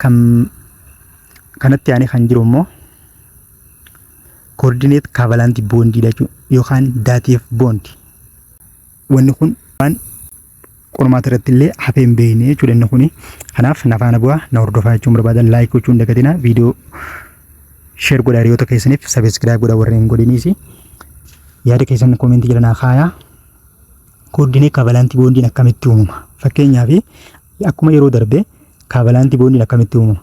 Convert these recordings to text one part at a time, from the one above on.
kan kanatti aanee kan jiru immoo koordineet kaavalanti boondii jechuudha yookaan daatiif boondi. Wanni kun waan qormaata irratti illee hafee hin beekne jechuudha inni kuni. Kanaaf na faana bu'aa na hordofaa jechuun barbaadan laayik gochuun hin dagatinaa viidiyoo sheer godhaa hiriyoota keessaniif sabiskiraayib godhaa warreen hin godhiniisi. Yaada keessan koomentii jala naa kaayaa. Kooddiin kaavalantii boondiin akkamitti uumama? Fakkeenyaaf akkuma yeroo darbe kaavalantii boondiin akkamitti uumama?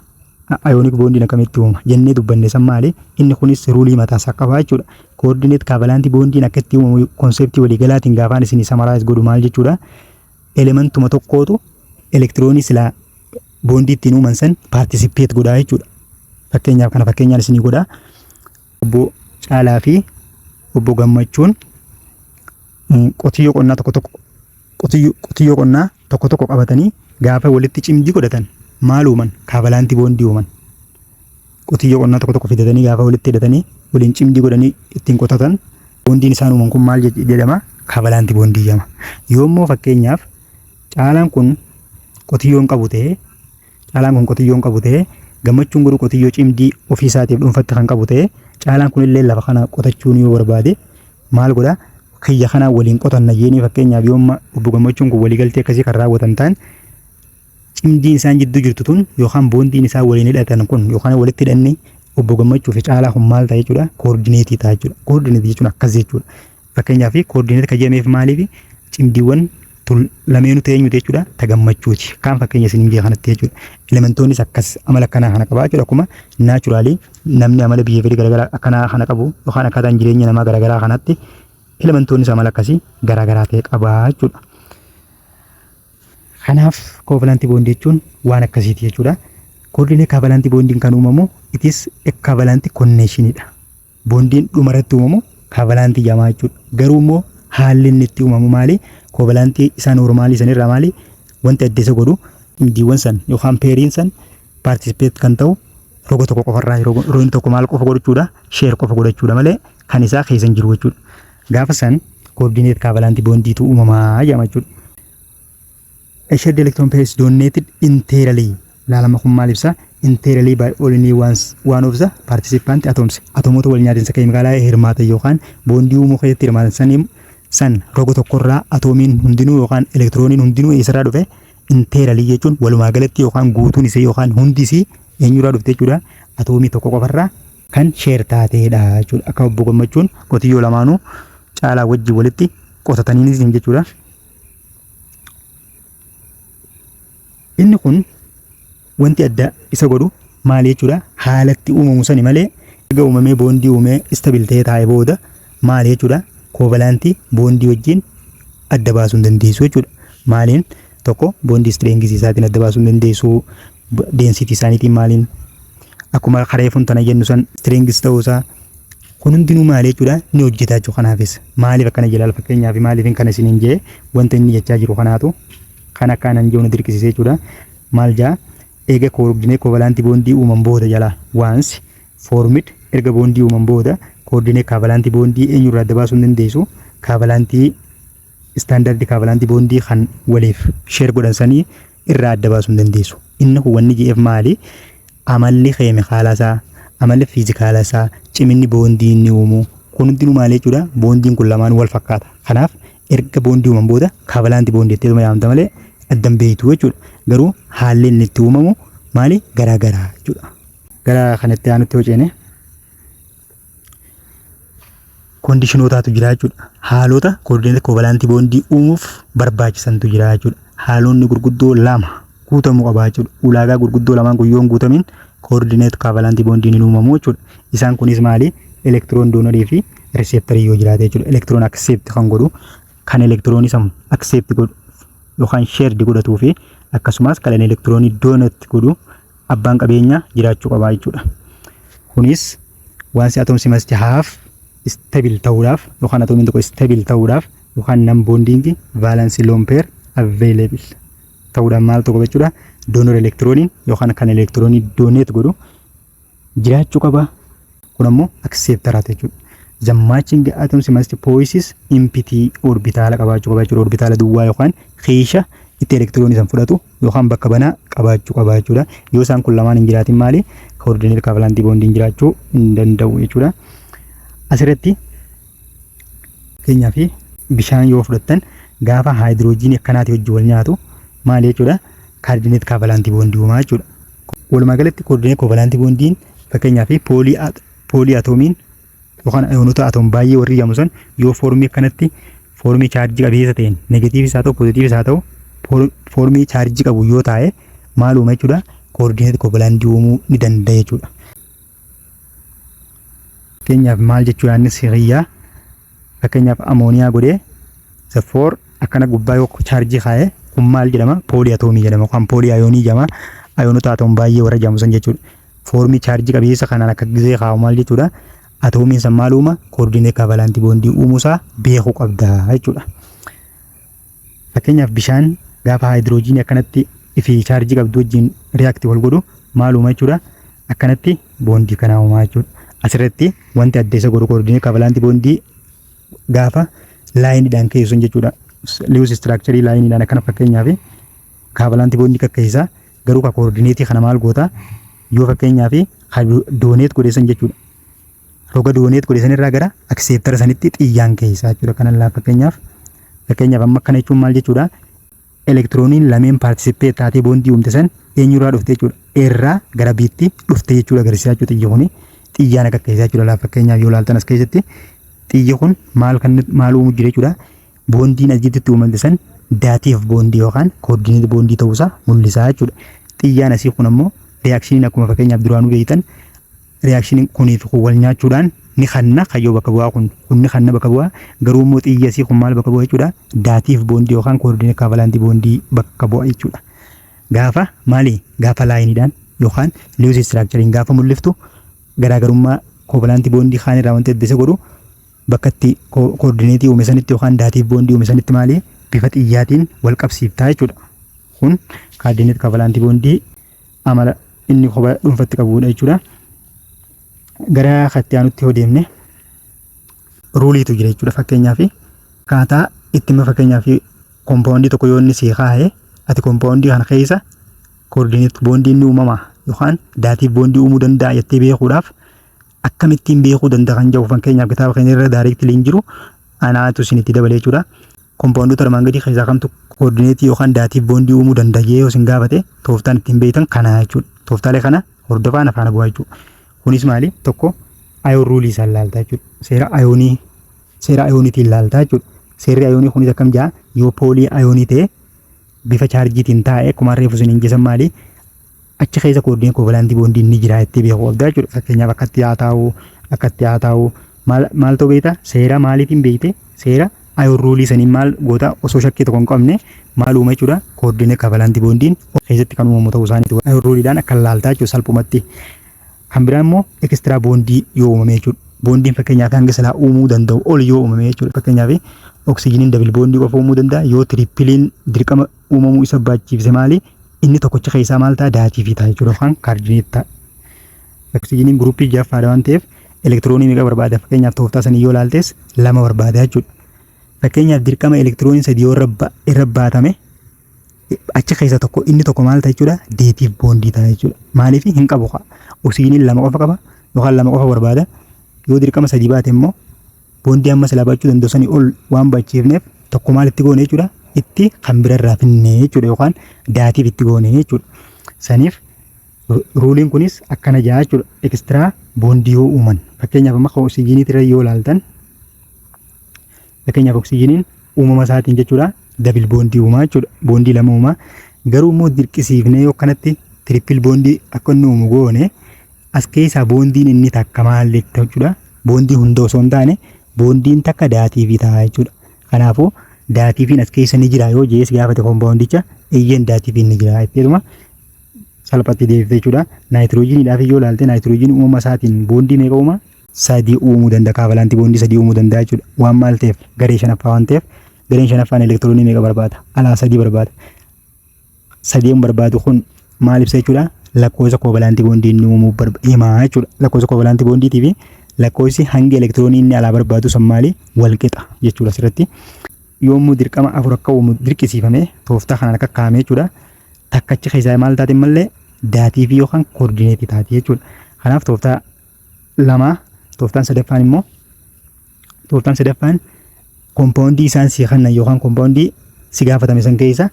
Ayoonik boondiin akkamitti uumama? Jennee dubbanne san maali? Inni kunis ruulii mataasaa qaba jechuudha. Koordineet kaavalantii boondiin akka itti uumamu konseptii waliigalaatiin gaafaan isin samaraayis godhu maal jechuudha? Elementuma tokkootu elektiroonii silaa boondii ittiin uuman san paartisipeet godhaa jechuudha. Fakkeenyaaf kana fakkeenyaan isinii godhaa. Obbo Caalaa fi Obbo Gammachuun qotiyyoo qonnaa tokko tokko qotiyyoo qonnaa tokko tokko qabatanii gaafa walitti cimdii godhatan maal uuman kaabalaantii boondii uuman qotiyyoo qonnaa tokko tokko fidatanii gaafa walitti hidhatanii waliin cimdii godhanii ittiin qotatan boondiin isaan uuman kun maal jedhama kaabalaantii boondii jedhama yoommoo fakkeenyaaf caalaan kun qotiyyoo hin qabu ta'ee Caalaan kun qotiyyoo hin qabu ta'ee gammachuun garuu qotiyyoo cimdii ofii isaatiif dhuunfatti kan qabu ta'ee caalaan kun illee lafa kana qotachuun yoo barbaade maal godha kiyya kanaa waliin qotanna jeenii fakkeenyaaf yoo amma obbo gammachuun kun waliigaltee akkasii kan raawwatan ta'an cimdiin isaan jidduu jirtu tun yookaan boondiin isaan waliin hidhatan kun yookaan walitti hidhanne obbo gammachuu fi caalaa kun maal ta'a jechuudha koordineetii ta'a jechuudha koordineetii jechuun akkas jechuudha Fakkeenyaaf koordineet kan jedhameef maaliif cimdiiwwan tun lameenu teenyu jechuudha ta gammachuuti kaan fakkeenya isiniin biyya kanatti jechuudha elementoonnis akkas amala akkanaa kana qabaa jechuudha akkuma naachuraalii namni amala biheevirii garaagaraa akkanaa kana qabu yookaan akkaataan jireenya namaa garaagaraa kanatti elementoonnis amala akkasii garaagaraa ta'e qabaa jechuudha. Kanaaf koovalantii boondii jechuun waan akkasiiti jechuudha. Koordineet kaavalantii boondiin kan uumamu itis kaavalantii konneeshiniidha. Boondiin dhuma irratti uumamu kaavalantii jamaa jechuudha. Garuu immoo haalli inni itti uumamu maali? Koovalantii isaa noormaalii san irraa maali? Wanti adda isa godhu indiiwwan san yookaan peeriin san paartisipeet kan ta'u roga tokko qofarraa roin tokko maal qofa godhachuudha? Sheer qofa godhachuudha malee kan isaa keessa hin jiru jechuudha. Gaafa san koordineet kaavalantii boondiitu uumamaa jedhama jechuudha. A shared electron pair is donated entirely. Laalama kun maal ibsa? Entirely by only ones, one of the participant atoms. Atomoota wal nyaatinsa keemikaalaa hirmaatan yookaan boondii uumuu keessatti hirmaatan saniin san roga tokkorraa atoomiin hundinuu yookaan elektirooniin hundinuu eessarraa dhufe? Entirely jechuun walumaa galatti yookaan guutuun isii yookaan hundi isii eenyurraa dhufte jechuudha? Atoomii tokko qofarraa kan sheer taateedha jechuudha. Akka obbo Gammachuun qotiyyoo lamaanuu caalaa wajjin walitti qotataniinis jechuudha. Inni kun wanti adda isa godhu maali jechuudha haalatti uumamu sani malee erga uumamee boondii uumee istabil ta'ee taa'ee booda maali jechuudha koovalaantii boondii wajjin adda baasuu hin dandeessu jechuudha. Maaliin tokko boondii istireengisii isaatiin adda baasuu hin dandeessu density isaaniitiin maaliin akkuma kareefuun tana jennu san strings ta'uu isaa kun hundinuu maali jechuudha ni hojjetaa jechuudha kanaafis maaliif akkana jalaal fakkeenyaaf maaliif hin kana isiniin jee wanta inni jechaa jiru kanaatu kan akka anan jiru na dirqisiisee jechuudha maal jaa eega koordinee koovalaantii boondii uuman booda jalaa waans foormid erga boondii uuman booda koordinee kaavalaantii boondii eenyurraa adda baasuu hin dandeessu kaavalaantii istaandardi kaavalaantii boondii kan waliif sheer godhan sanii irraa adda baasuu hin dandeessu. Inni kun wanni je'eef maali? Amalli keemikaala isaa, amalli fiizikaala isaa, ciminni boondii inni uumu kun hundinuu maali jechuudha? Boondiin kun lamaan wal fakkaata. Kanaaf erga boondii uuman booda kaavalaanti boondii jettee dhuma yaamta malee adda hin beektu jechuudha. Garuu haalli inni itti uumamu maali? Garaa garaa jechuudha. Gara kanatti aanutti hojjene. koondishinootaatu jira jechuudha. Haalota koordineetii koovalaantii boondii uumuuf barbaachisantu jira jechuudha. Haalonni gurguddoo lama guutamuu qaba jechuudha. Ulaagaa gurguddoo lamaan kun yoo hin guutamin koordineetii koovalaantii boondiin hin uumamu jechuudha. Isaan kunis maali? Elektiroon doonarii fi riseeptarii yoo jiraate jechuudha. Elektiroon akseepti kan godhu kan elektiroonii san akseepti godhu yookaan sheerdi godhatuu fi akkasumas kan elektiroonii doonatti godhu abbaan qabeenyaa jiraachuu qabaa jechuudha. Kunis waan si atoms must have stable ta'uudhaaf yookaan atoomiin tokko stable ta'uudhaaf yookaan nan bonding valence lone pair available ta'uudhaan maal tokko jechuudha donor elektirooniin yookaan kan elektiroonii donate godhu jiraachuu qaba. kun ammoo acceptor haa jechuudha. The matching atoms must poise empty orbitaala qabaachuu qaba jechuudha. Orbitaala duwwaa yookaan kiisha itti elektiroonii san fudhatu yookaan bakka banaa qabaachuu qaba jechuudha. Yoo isaan kun lamaan hin jiraatin maali? Koordineet kaavalantii boondiin jiraachuu hin danda'u jechuudha. Asirratti keenyaa fi bishaan yoo fudhattan gaafa haayidiroojiinii akkanaati hojii wal nyaatu maali jechuudha? Kaardineet kaavalantii boondii uumaa jechuudha. Walumaa galatti koordineet kaavalantii boondiin Fakkeenyaaf poolii poolii atoomiin yookaan ayoonota atoom baay'ee warri jedhamu san yoo foormii akkanatti foormii chaarjii qabeessa ta'een negatiivis haa ta'u poozitiivis haa ta'u foor- foormii chaarjii qabu yoo taa'e maal uuma jechuudha koordineet kovalandii uumuu ni danda'a jechuudha. Fakkeenyaaf maal jechuu yaadni siriyyaa Fakkeenyaaf amooniyaa godhee isa foor akkana gubbaa yoo chaarjii kaa'e kun maal jedhama? Poolii atoomii jedhama yookaan poolii ayoonii jedhama. Ayoonota atoom baay'ee warra jedhamu san jechuudha. Foormii chaarjii qabiyyessa kanaan akka gizee kaa'u maal jechuudha? Atoomiin san maal uuma? Koordinee kaavalaantii boondii uumuusaa beekuu qabda jechuudha. Fakkeenyaaf bishaan gaafa haayidiroojiinii akkanatti fi chaarjii qabdu wajjin riyaakti wal godhu maal uuma jechuudha. Akkanatti boondii kanaa uumaa jechuudha. Asirratti wanti adda isa godhu koordinee kaavalaanti boondii gaafa laayiniidhaan ka'e sun jechuudha. Liwus istiraakcharii laayiniidhaan akkana fakkeenyaaf kaavalaanti boondii kakkeessa garuu ka koordineetii kana maal goota yoo fakkeenyaaf ka dooneet godheessan jechuudha. Roga dooneet godheessan irraa gara akseeptara sanitti xiyyaan keessaa jechuudha. Kanaan fakkeenyaaf Fakkeenyaaf amma akkana jechuun maal jechuudha? Elektirooniin lameen paartisippee taatee boondii uumte san eenyurraa dhufte jechuudha? Eerraa gara biitti dhufte jechuudha agarsiisaa jechuudha xiyyi kuni. Xiyyaan akka keessaa jechuudha laaf fakkeenyaaf yoo laaltan as keessatti xiyyi kun maal kan maal uumuu jira jechuudha? Boondiin as jidduutti uumamte san daatiif boondii yookaan koordineet boondii ta'uusaa mul'isaa jechuudha. Xiyyaan asii kun ammoo reaakshiniin akkuma fakkeenyaaf duraanuu beektan Reaction kunii fi kun wal nyaachuudhaan ni kanna kayyoo bakka bu'aa kun kun ni kanna bakka bu'aa garuu immoo xiyyasii kun maal bakka bu'a jechuudha daatiif boondii yookaan koordinee kaavalaantii boondii bakka bu'a jechuudha. Gaafa maali gaafa laayiniidhaan yookaan liwus istiraakchariin gaafa mul'iftu garaagarummaa koovalaantii boondii kaan irraa wanti adda isa godhu bakka itti koordineetii uume sanitti yookaan daatiif boondii uume sanitti maali bifa xiyyaatiin wal qabsiiftaa jechuudha. Kun kaardineet kaavalaantii boondii amala inni kophaa dhuunfatti qabudha jechuudha. Gara katti aanutti yoo deemne ruuliitu jira jechuudha fakkeenyaaf akkaataa itti immoo fakkeenyaaf kompaawundii tokko yoo inni sii kaa'e ati kompaawundii kana keessa koordineet boondii inni uumama yookaan daatiif boondii uumuu danda'a jettee beekuudhaaf akkamittiin beekuu danda'a kan jedhu fakkeenyaaf kitaaba keenya irra daariiktilii hin jiru anaatu isinitti dabalee jechuudha. Kompaawundoota armaan gadii keessaa kamtu koordineetii yookaan daatiif boondii uumuu danda'a jedhee yoo isin gaafate tooftaan ittiin beektan kana jechuudha. Tooftaalee kana hordofaa na faana bu'aa jechuudha. Kunis maali? Tokko ayoon ruulii isaan laaltaa jechuudha. Seera ayoonii seera ayooniitiin laaltaa jechuudha. Seerri ayoonii kunis akkam ja'a? Yoo poolii ayoonii ta'e bifa chaarjiitiin taa'e akkuma reefu isiniin jesan maali achi keessa kooddiin koovalaantii boondiin ni jira jettee beeku qabdaa jechuudha. Fakkeenyaaf akkatti haa taa'u akkatti haa taa'u maal ta'u beektaa seera maaliitiin beekte seera ayoon ruulii saniin maal goota osoo shakkii tokko hin qabne maal uuma jechuudha kooddiin koovalaantii boondiin keessatti kan uumamu ta'uu isaaniitu ayoon ruuliidhaan akka laaltaa jechuudha salphumatti. Kan biraa immoo ekistraa boondii yoo uumame jechuudha. Boondiin fakkeenyaaf hanga silaa uumuu danda'u ol yoo uumame jechuudha. Fakkeenyaaf oksijiniin dabil boondii qofa uumuu danda'a. Yoo tirippiliin dirqama uumamuu isa baachiifse maali? Inni tokkocha keessaa maal ta'a? Daatii fi ta'a jechuudha yookaan kaardineet ta'a. Oksijiniin guruppii jaffaadha waan ta'eef elektiroonii meeqa barbaada? Fakkeenyaaf tooftaa sanii yoo ilaaltes lama barbaada jechuudha. Fakkeenyaaf dirqama elektiroonii sadii yoo irra baatame achi keessa tokko inni tokko maal ta'a jechuudha deetiif boondii ta'a jechuudha maaliif hin qabu kaa oksijiiniin lama qofa qaba yookaan lama qofa barbaada yoo dirqama sadii baate immoo boondii amma silaa baachuu danda'u sanii ol waan baachiifneef tokko maal itti goone jechuudha itti kan birarraa finne jechuudha yookaan daatiif itti goone jechuudha saniif ruuliin kunis akkana ja'a jechuudha ekstiraa boondii yoo uuman fakkeenyaaf amma kan oksijiiniitirra yoo laaltan Fakkeenyaaf oksijiiniin uumama isaatiin jechuudha dabil boondii uumaa jechuudha. Boondii lama uumaa. Garuu immoo dirqisiifnee yoo kanatti tirippil boondii akka inni uumu goone as keessaa boondiin inni takka maal jetta jechuudha. Boondii hunda osoo hin taane boondiin takka daatiivii ta'a jechuudha. Kanaafuu daatiiviin as keessa ni jira yoo jees gaafate kompaawundicha eeyyeen daatiiviin ni jira jechuudha. salphatti deebifte jechuudha. Naayitiroojiiniidhaaf yoo ilaalte naayitiroojiin uumama isaatiin boondii meeqa uuma? sadii uumuu danda'a. Kaavalantii boondii sadii uumuu danda'a jechuudha. Waan maal ta'eef garee shanaffaa waan ta'eef gareen shanaffaan elektiroonii meeqa barbaada? Alaa sadii barbaada. Sadeen barbaadu kun maal ibsa jechuudha? Lakkoofsa koovalaantii boondii inni uumuu barba- himaa jechuudha. Lakkoofsa koovalaantii boondiitii fi lakkoofsi hangi elektiroonii inni alaa barbaadu san maali? Wal qixa jechuudha asirratti. Yommuu dirqama afur akka uumu dirqisiifame tooftaa kanaan akka kaa'ame jechuudha. Takkachi keessaa maal taate malee daatii fi yookaan koordineetii taate jechuudha. Kanaaf tooftaa lama tooftaan sadaffaan immoo tooftaan sadaffaan kompaawundii isaan si kennan yookaan kompaawundii si gaafatame san keessa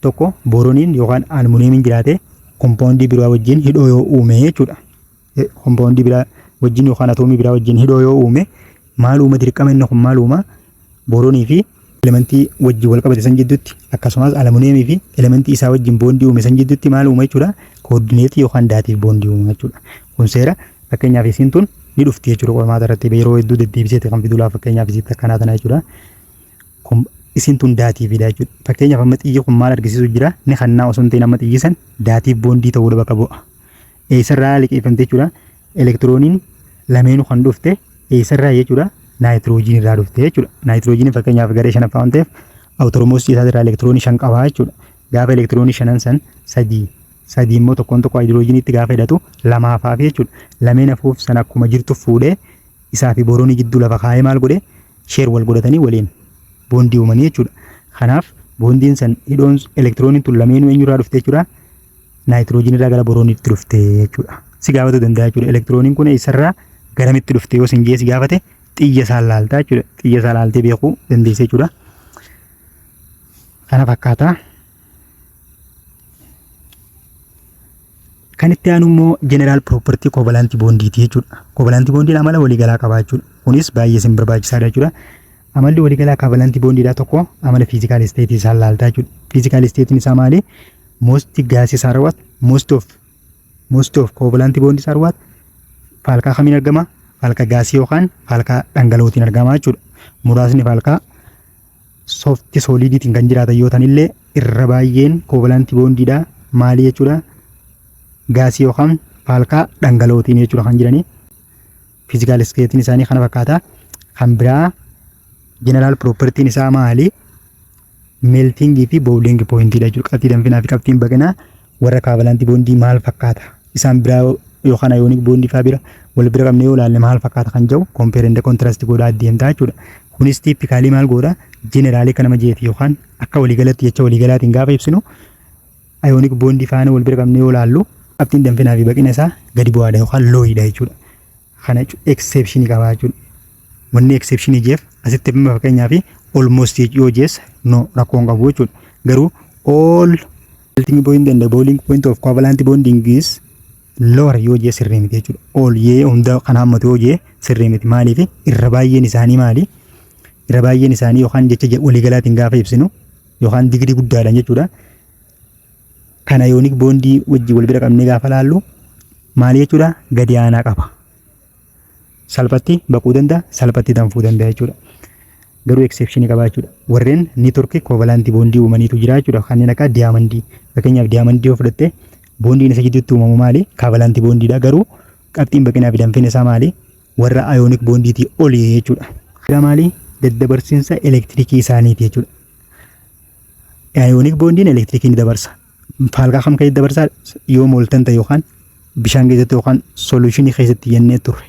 tokko booroniin yookaan almuuniyeemiin jiraate kompaawundii biraa wajjin hidhoo yoo uume jechuudha. Kompaawundii biraa wajjin yookaan atoomii biraa wajjin hidhoo yoo uume maal uuma dirqama inni kun maal uuma booroonii fi elementii wajjin wal qabate san jidduutti akkasumas alamuneemii fi elementii isaa wajjin boondii uume san jidduutti maal uuma jechuudha koordineetii yookaan daatiif boondii uuma jechuudha kun seera fakkeenyaaf isiin tun ni dhufti jechuudha qormaata irratti yeroo hedduu deddeebiseeti kan fidulaa fakkeenyaaf isiitti akkanaa tana jechuudha kun isiin tun daatiifiidha jechuudha fakkeenyaaf amma xiyyi kun maal argisiisu jira ni kannaa osoo hin ta'in amma xiyyi san daatiif boondii ta'uudha bakka bu'a eessarraa liqeeffamte jechuudha. Elektirooniin lameenu kan dhufte eessarraa jechuudha. Naayitiroojiin irraa dhufte jechuudha. Naayitiroojiin fakkeenyaaf garee shanaffaa waan ta'eef awutoromosii isaa irraa elektiroonii shan qabaa jechuudha. Gaafa elektiroonii shanan san sadii sadii immoo tokkoon tokko haayidiroojiinitti gaafa hidhatu lamaaf hafe jechuudha. Lameen hafuuf san akkuma jirtu fuudhee isaa fi boronii jidduu lafa kaa'ee maal godhe sheer wal godhatanii waliin boondii uumanii jechuudha. Kanaaf boondiin san hidhoon elektirooniin tun lameenuu eenyurraa dhufte jechuudha. naayitiroojiin irraa gara borooniitti dhufte jechuudha. Si gaafatu danda'a jechuudha. Elektirooniin kun eessarraa garamitti dhufte yoo sin jee si gaafate xiyya isaa laaltaa jechuudha. Xiyya isaa laaltee beekuu dandeessa jechuudha. Kana fakkaata. Kan itti aanu immoo jeneraal piroopartii koovalaantii boondiiti jechuudha. Koovalaantii boondiin amala waliigalaa qaba jechuudha. Kunis baay'ee isin barbaachisaadha jechuudha. Amalli waliigalaa kaavalantii boondiidhaa tokko amala fiizikaal isteetii isaa laaltaa jechuudha. Fiizikaal isteetiin isaa maali? Most gases are what? Most of most of covalent bonds are what? Faalkaa kamiin argama? Faalka gaasii yookaan faalkaa dhangala'ootiin argama jechuudha. Muraasni faalkaa soofti sooliidiitiin kan jiraatan yoo ta'anillee irra baay'een covalent bondiidha. Maali jechuudha? Gaasii yookaan faalkaa dhangala'ootiin jechuudha kan jiranii. Physical state isaanii kana fakkaata. Kan biraa general property isaa maali? Melting fi boiling point dha jechuudha. Qabxii danfinaa fi qabxiin baqinaa warra kaavalantii boondii maal fakkaata? Isaan biraa yookaan ayoonik boondii fa'aa bira wal bira qabnee yoo ilaalle maal fakkaata kan jedhu compare and contrast godhaa deemtaa jechuudha. Kunis tiipikaalii maal godha? Jeneraalii akka nama jeeti yookaan akka waliigalatti jecha waliigalaatiin gaafa ibsinu Ayoonik boondii faana wal bira qabnee yoo laallu qabxiin danfinaa fi baqina isaa gadi bu'aadha yookaan looyiidha jechuudha. Kana eksepshinii qabaa jechuudha. Wanni eksepshinii jeef asitti bima fakkeenyaa fi olmost yoo jees no rakkoon qabu jechuudha. Garuu all melting point and boiling point of covalent bonding is lower yoo jee sirrii miti jechuudha. All yee hunda kan hammatu yoo jee sirrii miti maaliif irra baay'een isaanii maali? Irra baay'een isaanii yookaan jecha waliigalaatiin gaafa ibsinu yookaan digirii guddaadhaan jechuudha. Kana yoonik boondii wajjin wal bira qabnee gaafa laallu maal jechuudha gadi aanaa qaba. Salphatti baquu danda'a, salphatti danfuu danda'a jechuudha. Garuu eksepshinii qaba jechuudha. Warreen neetworkii koovalaantii boondii uumaniitu jira jechuudha. Kanneen akka diyaamandii. Fakkeenyaaf diyaamandii yoo fudhatte boondiin isa gidduutti uumamu maali? Kaavalaantii boondiidha. Garuu qabxiin baqinaa fi danfiin isaa maali? warra ayooniik boondiitii oli jechuudha. Gara maalii daddabarsiinsa elektirikii isaaniiti jechuudha. Ayooniik boondiin elektirikii ni dabarsa. Faalkaa kam keessatti dabarsaa yoo mooltan ta'e yookaan bishaan keessatti yookaan soluushinii keessatti jennee turre.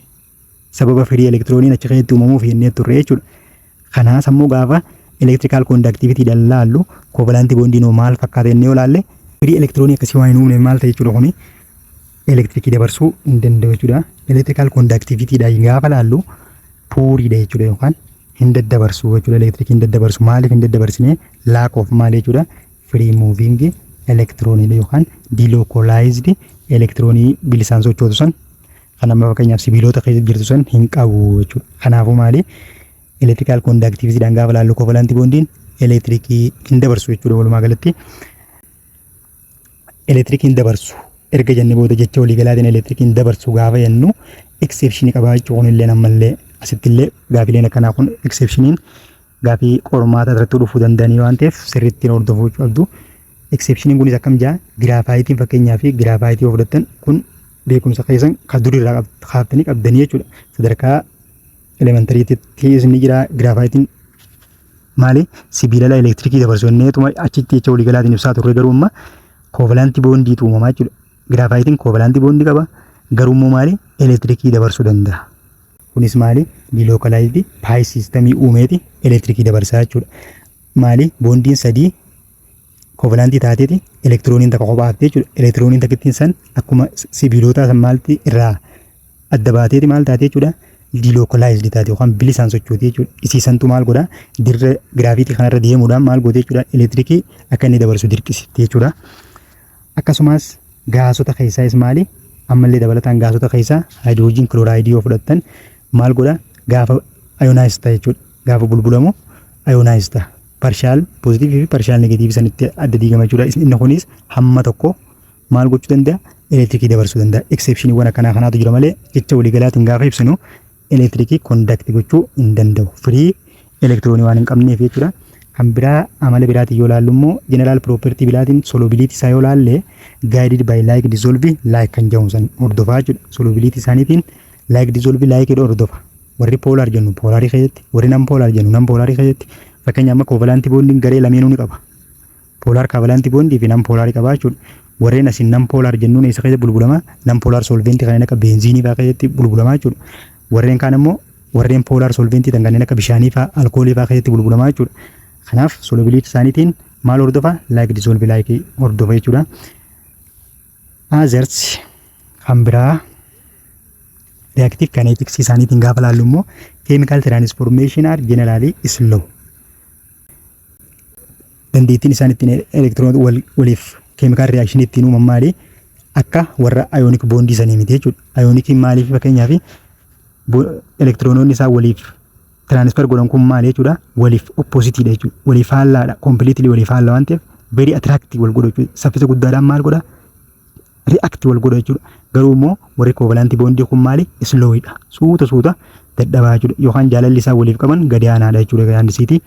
Sababa firii elektirooniin achi keessatti uumamuuf jennee turre jechuudha. Kanaas ammoo gaafa elektirikaal koondaktiivitii dallaallu koovalaantii boondii noo maal fakkaata jennee yoo laalle firii elektiroonii akkasii waan hin uumne maal ta'e jechuudha kuni elektirikii dabarsuu hin danda'u jechuudha. Elektirikaal koondaktiivitiidha gaafa laallu puuriidha jechuudha yookaan hin daddabarsu jechuudha elektirikii hin daddabarsu maaliif hin daddabarsine laak of maal jechuudha firii muuviingi elektirooniidha yookaan diilookoolaayizdi elektiroonii bilisaan sochootu san kan amma fakkeenyaaf sibiilota keessa jirtu san hin qabu jechuudha. Kanaafuu maali elektirikaal koondaaktiivitiidhaan gaafa laallu kovalantii boondiin elektirikii hin dabarsu jechuudha walumaa galatti. Elektirikii hin dabarsu erga jenne booda jecha waliigalaatiin elektirikii hin dabarsu gaafa jennu eksepshinii qabaa jechuudha kunillee ammallee asittillee gaafileen akkanaa kun eksepshiniin gaafii qormaata irratti dhufuu danda'anii waan ta'eef sirriitti hordofuu qabdu. Eksepshiniin kunis akkam jaa giraafaayitiin fakkeenyaa fi giraafaayitii yoo fudhattan kun beekumsa keessan kan durii irraa kaaftanii qabdanii jechuudha. Sadarkaa elementariitti isin jira giraafaayitiin maali sibiilala elektirikii dabarsu inneetuma achitti jecha waliigalaatiin ibsaa turre garuu amma koovalantii boondii uumamaa jechuudha. Giraafaayitiin koovalantii boondii qaba garuu immoo maali elektirikii dabarsuu danda'a. Kunis maali? Dilookalaayizdi paayis siistamii uumeeti elektirikii dabarsaa jechuudha. Maali? Boondiin sadii kovalantii taateeti elektirooniin takka kophaa haftee jechuudha. Elektirooniin takkittiin san akkuma sibiilootaa san maalti irraa adda baateeti maal taatee jechuudha. Dilookalaayizdi taate yookaan bilisaan sochooti jechuudha. Isii santu maal godha? Dirra giraafiitii kanarra deemuudhaan maal goote jechuudha? Elektirikii akka inni dabarsu dirqisiifte jechuudha. Akkasumaas gaasota keessaa is maali? Ammallee dabalataan gaasota keessaa haayidiroojiin kilooraayidii yoo fudhattan maal godha? Gaafa ayonaayiz ta'a jechuudha. Gaafa bulbulamu ayonaayiz ta'a. Parshaal poozitiivii fi parshaal negatiivii sanitti adda diigama jechuudha. Is- Inni kunis hamma tokko maal gochuu danda'a? Elektirikii dabarsuu danda'a. Eksepshiniiwwan akkanaa kanaatu jira malee jecha waliigalaatiin gaafa ibsinu elektirikii kondakti gochuu hin danda'u. Firii elektiroonii waan hin qabneef jechuudha. Kan biraa amala biraatiin yoo laallu immoo jeneraal piroopertii biraatiin solubiliitii isaa yoo laalle gaayidid baay laayik dizoolvi laayik kan jedhamu san hordofaa jechuudha. Solubiliitii isaaniitiin laayik dizoolvi laayikidha hordofa. Warri poolaar jennu poolaarii keessatti, warri nan poolaar jennu nan poolaarii keessatti. Fakkeenya amma koovalaantii boondiin garee lameenuu ni qaba. Polar covalent bond fi non polar qabaa jechuudha. Warreen asiin non polar jennuun eessa keessa bulbulama? Non polar solvent kanneen akka benziinii fa'aa keessatti bulbulama jechuudha. Warreen kaan immoo warreen polar solvent ta'an kanneen akka bishaanii fa'aa, alkoolii fa'aa keessatti bulbulama jechuudha. Kanaaf solubility isaaniitiin maal hordofa? Like dissolve like hordofa jechuudha. Others kan biraa reactive kinetics isaaniitiin gaafa laallu immoo chemical transformation are generally slow. dandeettiin isaan ittiin elektiroonota wal, waliif keemikaal riyaakshini ittiin uuman maali? Akka warra ayoonik boondii sanii miti jechuudha. Ayoonikiin maaliif fakkeenyaaf elektiroonoonni isaa waliif tiraanisfer godhan kun maali jechuudha? Waliif oppoositiidha jechuudha. Waliif faallaadha. Kompiliitilii waliif faalla waan ta'eef very attractive wal godhu jechuudha. Saffisa guddaadhaan maal godha? react wal godha jechuudha. Garuu immoo warri covalent bond kun maali? Slow dha. Suuta suuta dadhabaa jechuudha. Yookaan jaalalli isaan waliif qaban gadi aanaadha jechuudha egaa yaandisiitii.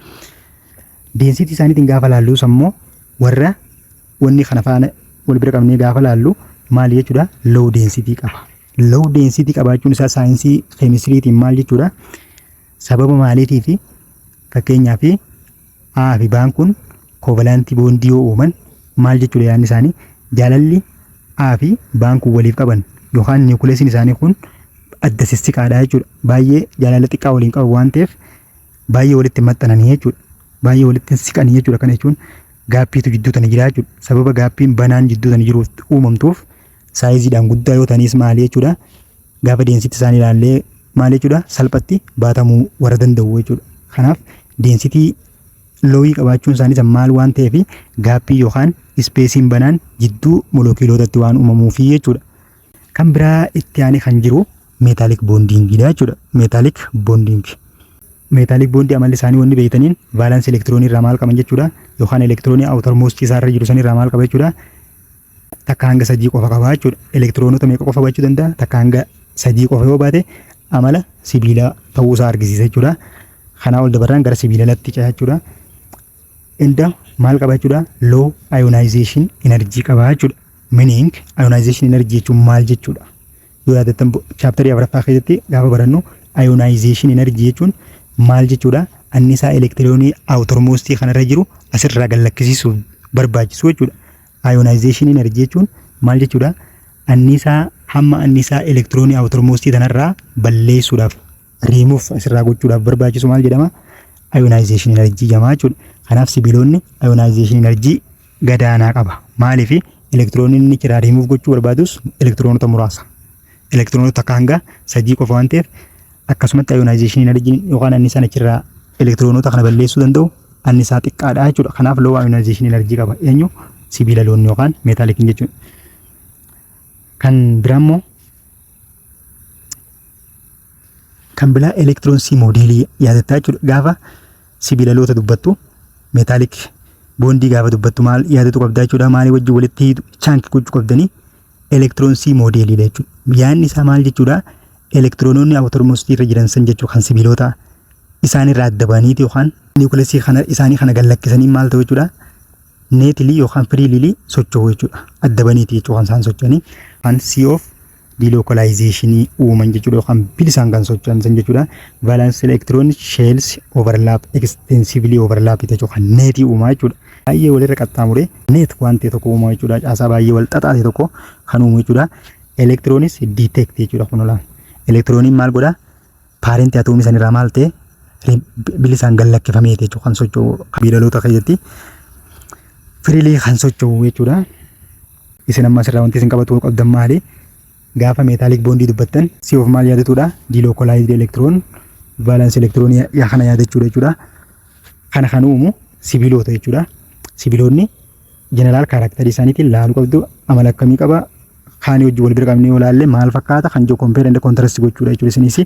Density isaaniitiin gaafa laalluus ammoo warra wanni kana faana wal bira qabnee gaafa laallu maali jechuudha? Low density qaba. Low density qabaachuun isaa saayinsii keemistiriitiin maal jechuudha? Sababa maaliitii fi fakkeenyaa fi A fi B'n kun koovalaantii boondii yoo uuman maal jechuudha yaadni isaanii jaalalli A fi B'n kun waliif qaban yookaan niwukileesiin isaanii kun adda sissiqaadha jechuudha. Baay'ee jaalala xiqqaa waliin qaban waan ta'eef baay'ee walitti maxxananii jechuudha. Baay'ee walitti siqanii jechuudha. Kana jechuun gaappiitu jidduu tana jira jechuudha. Sababa gaappiin banaan jidduu tana jiruuf uumamtuuf saayiziidhaan guddaa yoo ta'anis maali jechuudha. Gaafa deensitti isaan ilaallee maali jechuudha salphatti baatamuu warra danda'u jechuudha. Kanaaf deensitii loowii qabaachuun isaaniis maal waan ta'eef gaappii yookaan ispeesiin banaan jidduu molookiilootatti waan uumamuufi jechuudha. Kan biraa itti aanee kan jiru meetaalik boondiingiidha jechuudha. Meetaalik boondiingi. Meetaalik boondii amalli isaanii wanni beektaniin vaalaansi elektiroonii irraa maal qaban jechuudha. Yookaan elektiroonii awutar moost isaa irra jiru san irraa maal qaba jechuudha. takka hanga sadii qofa qaba jechuudha. Elektiroonota meeqa qofa baachuu danda'a? Takka hanga sadii qofa yoo baate amala sibiilaa ta'uu isaa argisiisa jechuudha. Kanaa ol dabarraan gara sibiila latti ce'a jechuudha. Inda maal qaba jechuudha? Low ionization energy qaba jechuudha. Meaning ionization energy jechuun maal jechuudha? Yoo yaadattan chaaptarii afuraffaa keessatti gaafa barannu ionization energy jechuun maal jechuudha? Annisaa elektiroonii awutormoostii kanarra jiru asirraa gad lakkisiisuuf barbaachisu jechuudha. Ionization energy jechuun maal jechuudha? Anniisaa hamma anniisaa elektiroonii awutormoostii tanarraa balleessuudhaaf riimuuf asirraa gochuudhaaf barbaachisu maal jedhama? Ionization energy jedhama jechuudha. Kanaaf sibiilonni ionization energy gadaanaa qaba. Maaliif elektiroonii inni irraa riimuuf gochuu barbaadus elektiroonota muraasa. elektiroonota takka hanga sadii qofa waan ta'eef akkasumatti ayonaayizeeshinii inarjiin yookaan annisaan achirraa elektiroonota kana balleessuu danda'u annisaa xiqqaadha jechuudha. Kanaaf loo ayonaayizeeshinii inarjii qaba. Eenyu sibiila loon yookaan meetaalikiin jechuudha. Kan biraa immoo kan biraa elektiroonsii moodeelii yaadattaa jechuudha. Gaafa sibiila loota dubbattu meetaalik boondii gaafa dubbattu maal yaadatu qabdaa jechuudha. Maalii wajjin walitti hiitu chaanki gochuu qabdanii elektiroonsii moodeeliidha jechuudha. Yaadni isaa maal jechuudha? Elektiroonoonni awutormoostii irra jiran san jechuudha kan sibiilota isaanirraa adda ba'aniiti yookaan niwukilasii kana isaanii kana gad lakkisanii maal ta'u jechuudha? Neetilii yookaan firiililii socho'u jechuudha. Adda ba'aniiti jechuudha kan isaan socho'anii. Kan C of dilookolaayizeshinii uuman jechuudha yookaan bilisaan kan socho'an san jechuudha. Vaalaansi elektiroon sheels overlaap extensively overlaap jechuudha kan neetii uumaa jechuudha. baay'ee walirra qaxxaamuree neet waan ta'e tokko uuma jechuudha. Caasaa baay'ee wal xaxaa ta'e tokko kan uumu jechuudha. Elektiroonis diiteekti jechuudha kun olaana. Elektirooniin maal godha? Paarentii atoomii sanirraa maal ta'e? Bilisaan gad lakkifamee jechuudha kan socho'u biilaloota keessatti firiilii kan socho'u jechuudha. Isin amma asirraa wanti isin qabatu qabdan maali? Gaafa meetaalik boondii dubbattan si of maal yaadatudha? Diilookolaayizdi elektiroon vaalans elektiroonii kana yaadachuudha jechuudha. Kana kan uumu sibiloota jechuudha. Sibiloonni jeneraal kaaraaktarii isaaniitiin laaluu qabdu amala akkamii qaba kaanii wajjin wal bira qabnee yoo laalle maal fakkaata kan jiru kompeer enda kontirast gochuudha jechuudha isinis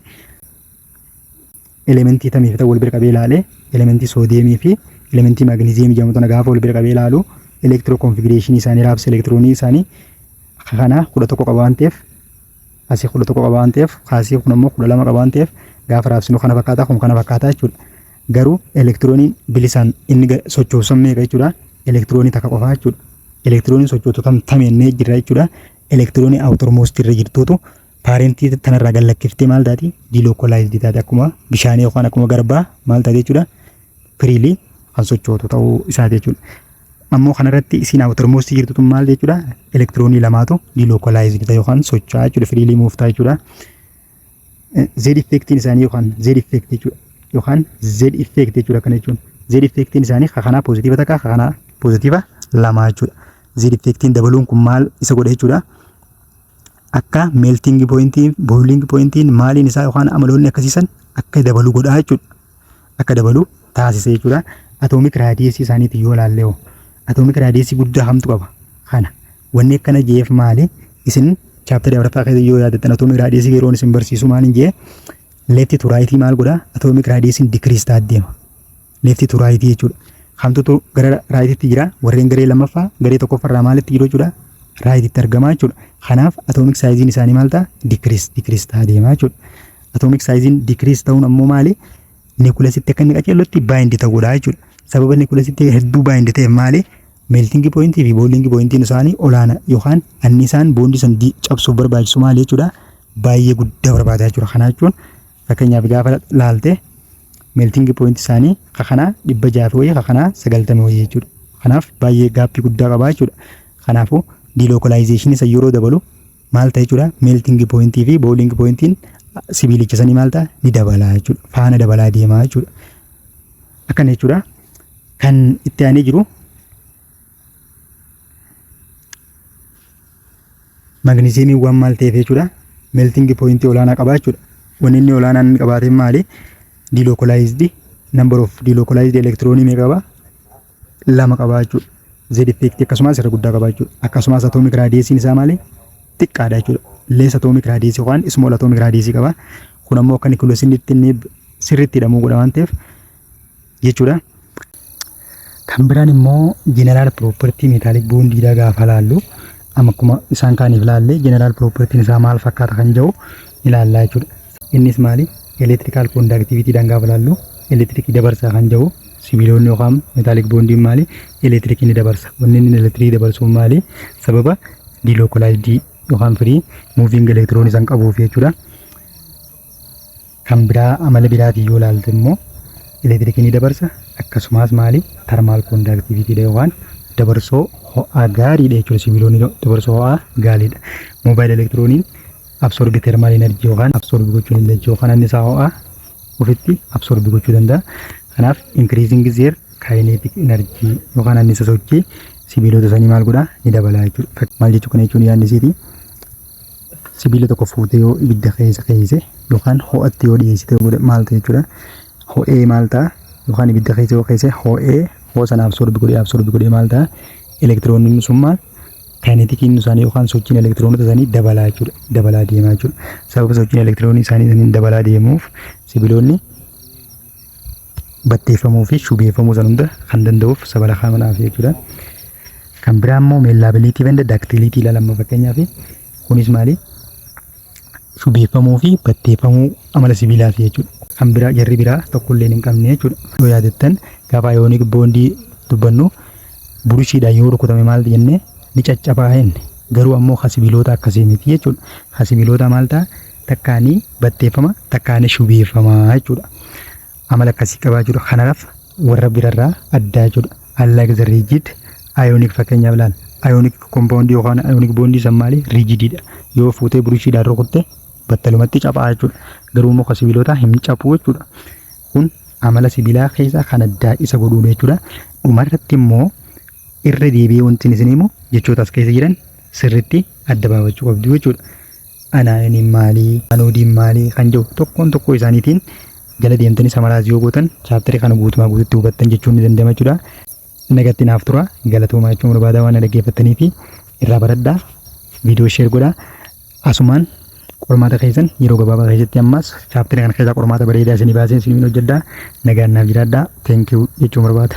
elementii tamii fi wal bira qabee laale elementii soodiyeemii fi elementii maagneziyeemii jedhamu tana gaafa wal bira qabee laalu elektiroo konfigireeshinii isaanii raabsa elektiroonii isaanii kana kudha tokko qaba waan ta'eef asii kudha tokko qaba waan ta'eef kaasii kun ammoo kudha lama qaba waan ta'eef gaafa raabsinu kana fakkaata kun kana fakkaata jechuudha. Garuu elektirooniin bilisaan inni ga- sochoosu san meeqa jechuudha? Elektiroonii takka qofaa jechuudha. Elektirooniin sochootu tam tamennee jirra jechuudha. Elektiroonii outer most irra jirtuutu paarentii tanarraa gad lakkiftee maal taati? Dilokolaayizdi taate akkuma bishaanii yookaan akkuma garbaa maal taate jechuudha? Firiilii kan sochootu ta'uu isaati jechuudha. Ammoo kanarratti isiin outer most jirtu tun maal jechuudha? Elektiroonii lamaatu dilokolaayizdi ta'e yookaan socho'aa jechuudha. Firiilii muuftaa jechuudha. Z effectiin isaanii yookaan Z effect jechuudha yookaan Z effect jechuudha kana jechuun Z effectiin isaanii ka kanaa pozitiiva takka ka kanaa pozitiiva lama jechuudha Z effectiin dabaluun kun maal isa godha jechuudha akka melting pointiin boiling pointiin maaliin isaa yookaan amaloonni akkasiisan akka dabalu godhaa jechuudha akka dabalu taasise jechuudha. Atoomik raadiyeesii isaaniitiin yoo ilaalle hoo atoomik raadiyeesii guddaa hamtu qaba. Kana wanni akkana jeef maali? Isin chaaptari afraffaa keessa yoo yaadattan atoomik raadiyeesii yeroon isin barsiisu maaliin jee leefti tu raayitii maal godha? Atoomik raadiyeesiin dikiriis ta'aa deema. Leefti tu raayitii jechuudha. Kamtutu gara raayitiitti jira? Warreen garee lammaffaa garee tokkoffarraa maalitti jiru jechuudha? Raayitiitti argama jechuudha. Kanaaf atoomik saayiziin isaanii maal ta'a? Dikiriis dikiriis ta'aa deema jechuudha. Atomic saayiziin decrease ta'uun ammoo maali? Niikuulasitti akka inni qaceellotti baayindi ta'uu godha jechuudha. Sababa niikuulasitti hedduu baayindi ta'eef maali? Meeltingi pooyintii fi booliingi pooyintiin isaanii olaana yookaan annisaan boondii san di- cabsuuf barbaachisu maali jechuudha? Baay'ee guddaa barbaada jechuudha. Kana jechuun fakkeenyaaf gaafa laalte meeltingi pooyinti isaanii ka kanaa dhibba jaha fi wayii ka kanaa sagaltama wayii jechuudha. Kanaaf baay'ee gaappii guddaa qabaa jechuudha. Kanaafuu diilookalaayizeshinii isa yeroo dabalu maal ta'a jechuudha meeltingi pooyintii fi booliingi pooyintiin sibiilicha sanii maal ta'a ni dabalaa jechuudha faana dabalaa deemaa jechuudha akkana jechuudha kan itti aanee jiru magniziyeemiin waan maal ta'eef jechuudha meeltingi pooyintii olaanaa qabaa jechuudha wanni inni olaanaan inni qabaate maali dilokolaayizdi number of dilokolaayizdi elektiroonii meeqa qaba lama qabaa jechuudha. Z effect akkasumas irra guddaa qabaa jechuudha. Akkasumas atomic radius isaa maali? Xiqqaadha jechuudha. Less atomic radius yookaan small atomic radius qaba. Kun ammoo akka nucleus inni itti inni sirriitti hidhamuu godha waan ta'eef jechuudha. Kan biraan immoo general property metallic bond dha gaafa laallu amma akkuma isaan kaaniif laalle general property isaa maal fakkaata kan jedhu ilaallaa jechuudha. Innis maali? Electrical conductivity dhaan gaafa ilaallu elektirikii dabarsaa kan jedhu sibiilonni yookaan metallic bondiin maali? Elektirikii ni dabarsa. Wanni inni elektirikii dabarsuun maali? Sababa delocalized yookaan free moving electron isaan qabuuf jechuudha. Kan biraa amala biraatiin yoo ilaalte immoo elektirikii ni dabarsa akkasumas maali? Thermal conductivity dha yookaan dabarsoo ho'aa gaariidha jechuudha. Sibiilonni dabarsoo ho'aa gaariidha. Mobile elektirooniin absorbi termaal enerjii yookaan absorbi gochuu dandeechi yookaan annisaa ho'aa ofitti absorbi gochuu danda'a. Kanaaf increasing their kinetic energy yookaan annisa sochii sibiilota sanii maal godhaa ni dabalaa jechuudha. Maal jechuu kana jechuun yaadni isiiti sibiila tokko fuutee yoo ibidda keessa keeyse yookaan ho'atti yoo dhiyeessite godhe maal ta'e jechuudha. Ho'ee maal ta'a yookaan ibidda keessa yoo keeyse ho'ee hoo sana absorbi godhee absorbi godhee maal ta'a elektirooniin sun maal kaayinetikiin isaanii yookaan sochiin elektiroonota isaanii dabalaa jechuudha. Dabalaa deemaa jechuudha. Sababa sochiin elektiroonii isaanii isaaniin dabalaa deemuuf sibiloonni batteeffamuu fi shubeeffamuu san hunda kan danda'uuf sabala kaamanaa fi jechuudha. Kan biraa immoo meellaabiliitii fi daktiiliitii ilaalama fakkeenyaaf kunis maali? shubeeffamuu fi batteeffamuu amala sibiilaati jechuudha. Kan biraa jarri biraa tokko illee hin qabne jechuudha. Yoo yaadattan gaafa ayoonik boondii dubbannu burushiidhaan yoo rukutame maal jenne ni caccabaa jenne. Garuu ammoo kan sibiiloota akkasii miti jechuudha. Kan sibiiloota maal ta'a takkaanii batteeffama takkaanii shubeeffama jechuudha. amala akkasii qabaa jiru kanaraf warra birarraa addaa jechuudha unlike the rigid ionic fakkeenyaaf laal ionic compound yookaan ionic bond san maali rigididha yoo fuutee burushidhaan rukutte battalumatti caphaa jechuudha garuu immoo sibiilota hin caphuu jechuudha kun amala sibiilaa keessaa kan addaa isa godhuudha jechuudha dhumarratti immoo irra deebi'ee wanti isin himu jechoota as keessa jiran sirritti adda baafachuu qabdu jechuudha. Anaayoniin maali? Anoodiin maali? Kan jedhu tokkoon tokkoo isaaniitiin jala deemtanii samaraayis yoo gootan chaaptarii kana guutumaa guututti hubattan jechuun ni danda'ama jechuudha. Nagatti naaf tura. Galatoomaa jechuun barbaadaa waan na dhaggeeffattanii fi irraa baradhaa. Viidiyoo sheer godhaa. Asumaan qormaata keessan yeroo gabaabaa keessatti ammaas chaaptarii kana keessaa qormaata bareedaa isinii baasee isiniin hojjedhaa. Nagaan naaf jiraadhaa. Thank you jechuun barbaada.